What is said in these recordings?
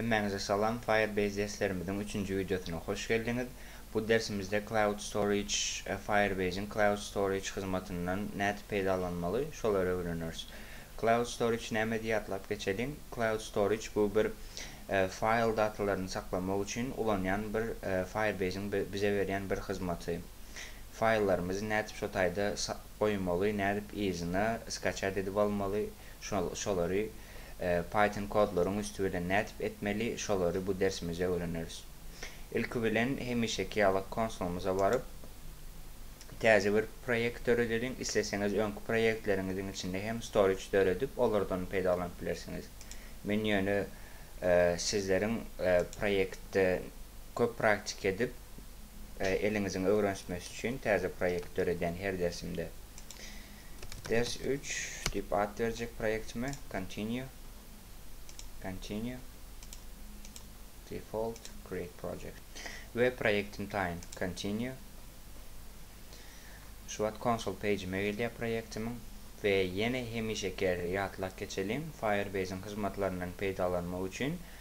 Hemmäňize salam, Firebase derslerimiziň üçünji wideosyna hoş geldiňiz. Bu dersimizde Cloud Storage, Firebase-iň Cloud Storage hyzmatyndan nädip peýdalanmaly, şolary öwreneris. Cloud Storage näme diýip atlap geçeliň. Cloud Storage bu bir faýl datalaryny saklamak üçin ulanýan bir Firebase-iň bize berýän bir hyzmaty. Faýllarymyzy nädip şo taýda goýmaly nädip yzyna skaçat edip almaly şol şolary python kodlaryň üsti bilen nädip etmeli şolary bu dersimizde öwreneris ilki bilen hemişeki ýaly konsolymyza baryp täze bir proýekt döredeliň isleseňiz öňki proýektleriňiziň içinde hem storage döredip olardan peýdalanyp bilersiňiz men ýöne sizleriň proýektde köp praktika edip eliňiziň öwrenişmesi üçin täze proýekt döredýän her dersimde. Ders üç diýip at berjek proýektime. Continue. Continue. Default. Create project. We proýektim taýyn. Continue. Şu wagt konsol pejime gelýär proýektimiň. We ýene hemişeki ýatlap geçeliň, Firebase'iň hyzmatlaryndan peýdalanmak üçin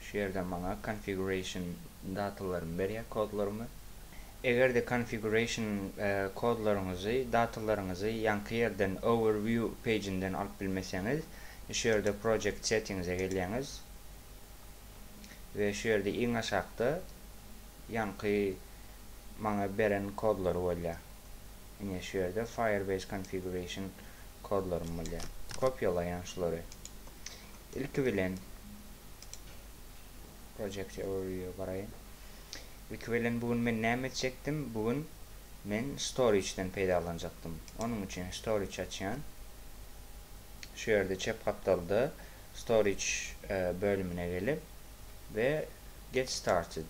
Şu ýerde maňa configuration datalarymy berýär, kodlarymy. Eger-de configuration kodlaryňyzy, datalaryňyzy ýaňky ýerden overview page-inden alyp bilmeseňiz, şu ýerde project settings-e gelýäňiz we şu ýerde iň aşakda ýaňky maňa beren kodlary bolýar. Ine şu ýerde firebase configuration kodlarym bolýar. Kopýalaýan şulary. Ilki bilen project overview garaýyn. Ilki bilen bu gün men näme etjekdim? Bu gün men storage-den peýdalanjakdym. Onuň üçin storage açýan. Şu ýerde çep gapdalda storage e, bölümine gelip we get started.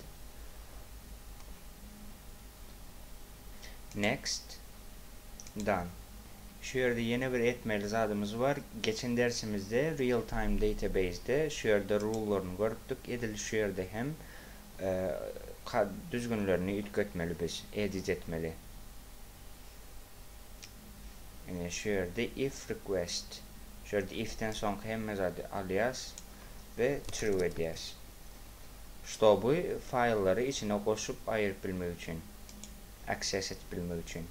Next. Done. Şu ýerde ýene bir etmeli zadymyz bar. Geçen dersimizde Real Time Database-de şu ýerde rule-laryny görüpdik. Edil şu ýerde hem düzgünlerini üýtgetmeli biz, edit etmeli. Ine, şu ýerde if request. Şu ýerde if-den soňky hemme zady alýas we true edýäs. Ştoby faýllary içine goşup aýryp bilmek üçin. access edip bilmek üçin.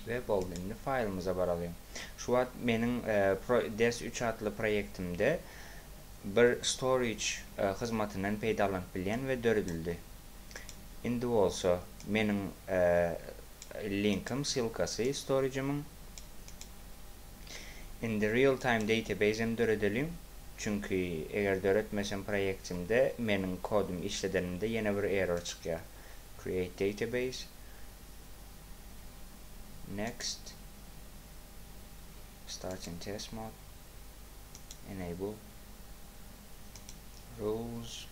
Ve boldy. Indi faýlymyza baralyň. Şu wagt meniň e, ders 3 atly proýektimde bir storage e, hyzmatyndan peýdalanyp bilýän ve döredildi. Indi bolsa meniň e, linkim, silkasy storage-imiň Indi real time database-em döredeliň, çünki eger döretmesem proýektimde meniň kodumy işledenimde ýene bir error çykýar. Create database. Next. Start in test mode. Enable. Rules.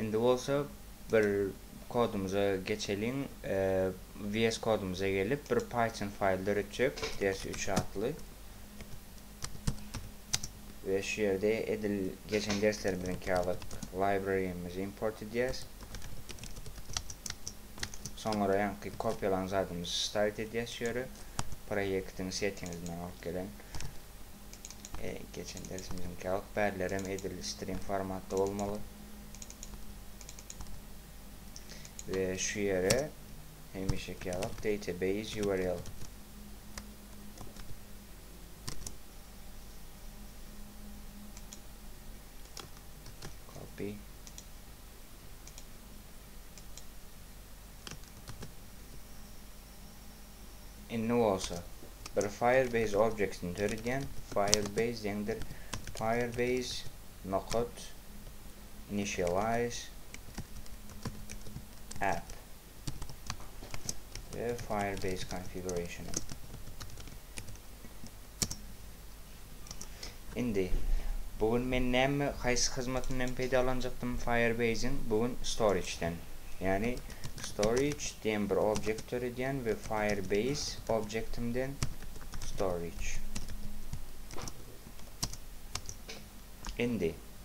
Indi bolsa bir kodumyza geçeliň. VS kodumyza gelip bir Python faýl döretjek. Ders 3 atly. we şu ýerde edil geçen derslerimiziňki ýaly librarymizi import edýäs. Soňra ýaňky kopýalan zadymyzy start edýäs şu ýere. Proýektiň settinginden alyp gelen e, geçen dersimiziňki ýaly bärler hem edil string formatda bolmaly. We şu ýere hemişeki ýaly database URL Indi bolsa bir Firebase objektini döredýän. Firebase deňdir Firebase nokat initialize app. we Firebase konfigurasyony. Indi bu gün men näme haýsy hyzmatyndan peýdalanjakdym Firebase-iň? Bu gün storage-den. Ýagny storage diýen bir objekt döredýän we Firebase objektimden storage. Indi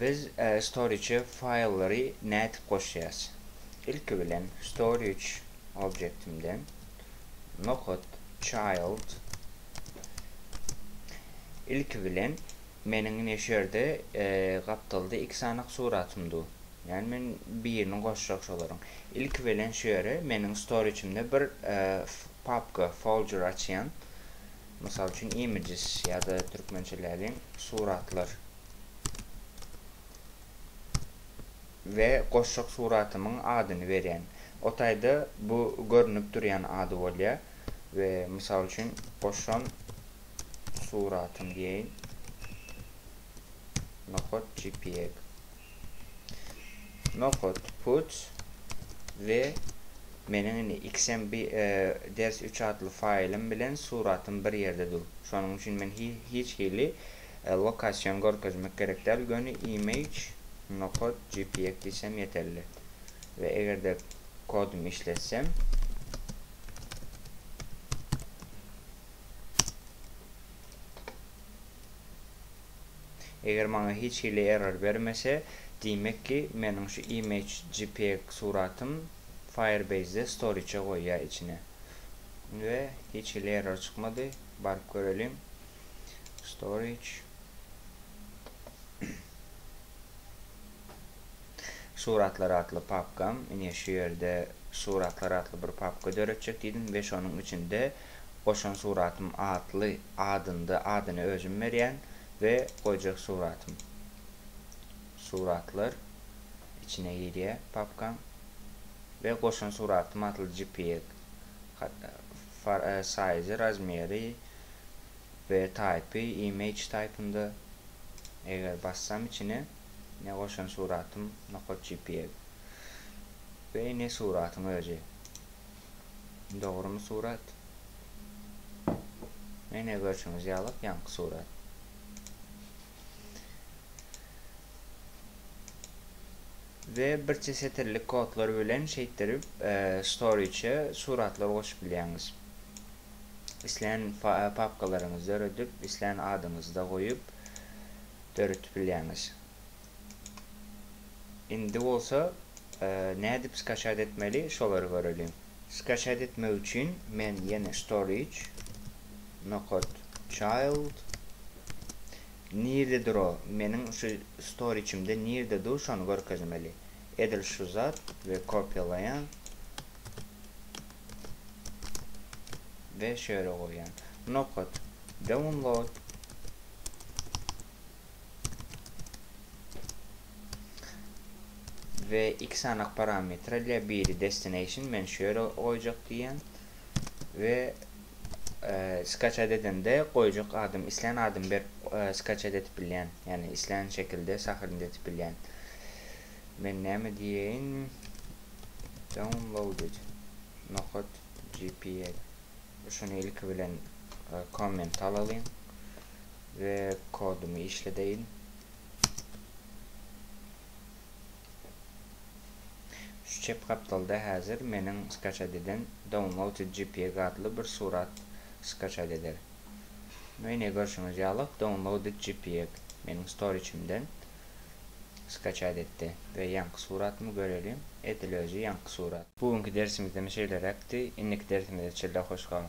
Biz storage-e faýllary nädip goşýas? Ilki bilen storage objektimden nohut child ilki bilen meniň ine şu ýerde gapdalda iki sanak suratym dur. Ýani men birini goşjak şolaryň. Ilki bilen şu ýere meniň storage-imde bir papka folder açýan. Mysal üçin images ýa-da türkmençeläliň suratlar. We goşjak suratymyň adyny berýän. O taýda bu görnüp durýan ady bolýar. We mysal üçin goşan suratym diýeýin. Nohod jpeg. Nohut, puç we meniň indi XMB ders üç atly faýlym bilen suratym bir ýerde dur. Şonuň üçin men hiç hili lokasion görkezmek gerek däl, göni image, nohut, jpeg diýsem ýeterli. We eger-de kodumy işletsem, Eger maňa hiç hili error bermese, diýmek ki, meniň şu image jpeg suratym Firebase-de storage-e goýýar içine. We hiç hili error çykmady. Baryp göreliň. Storage. Suratlar atly papkam, ine şu ýerde Suratlar atly bir papka döretjek diýdim we şonuň içinde Goşan suratym atly adynda, adyny özüm berýän we goýjak suratym. Suratlar içine girýär papkaň we Goşan suratym atly jpeg saýzy, razmeri we taýpy image taýpynda. Eger bassam içine. Ne goşan suratym nokat jpeg. Beý ne suratyň özi. Dogrymy surat. Ene görşüňiz ýalak ýaňky surat. We birçe setirlik kodlar bilen şeýtdirip storage suratlar goşup bilýäňiz. Islän papkalaryňyzy döredip islän adyňyzy da goýup. döredip bilýäňiz. Indi bolsa nädip skaçat etmeli şolary göreliň. Skaçat etmek üçin men ýene storage nokat child nirde dur o meniň şu storage'imde nirde dur şony görkezmeli. Edil şu zat we kopýalaýan we şöyle goýýan. Nokat, download. We iki sanak parametre ile biri destination men şöyle goýjak diýýän we Skaçat edende goýjak adymy islän adymy berip skaçat edip bilýän. Ýagny islän şekilde sahrnt edip bilýän. Men näme diýeýin? Downloaded nokat jpeg. Şuny ilki bilen komment alalyň we kodumy işledeýin. Şu çep gapdalda häzir meniň skaçat eden Downloaded jpeg atly bir surat skaçat eder. Ine ine görşüňiz ýaly Downloaded jpeg meniň storage'imden skaçat etdi we ýaňky suratymy göreliň edil özi ýaňky surat. Bu günki dersimizem şeýleräkdi. Indiki dersimizde çilla hoş gal.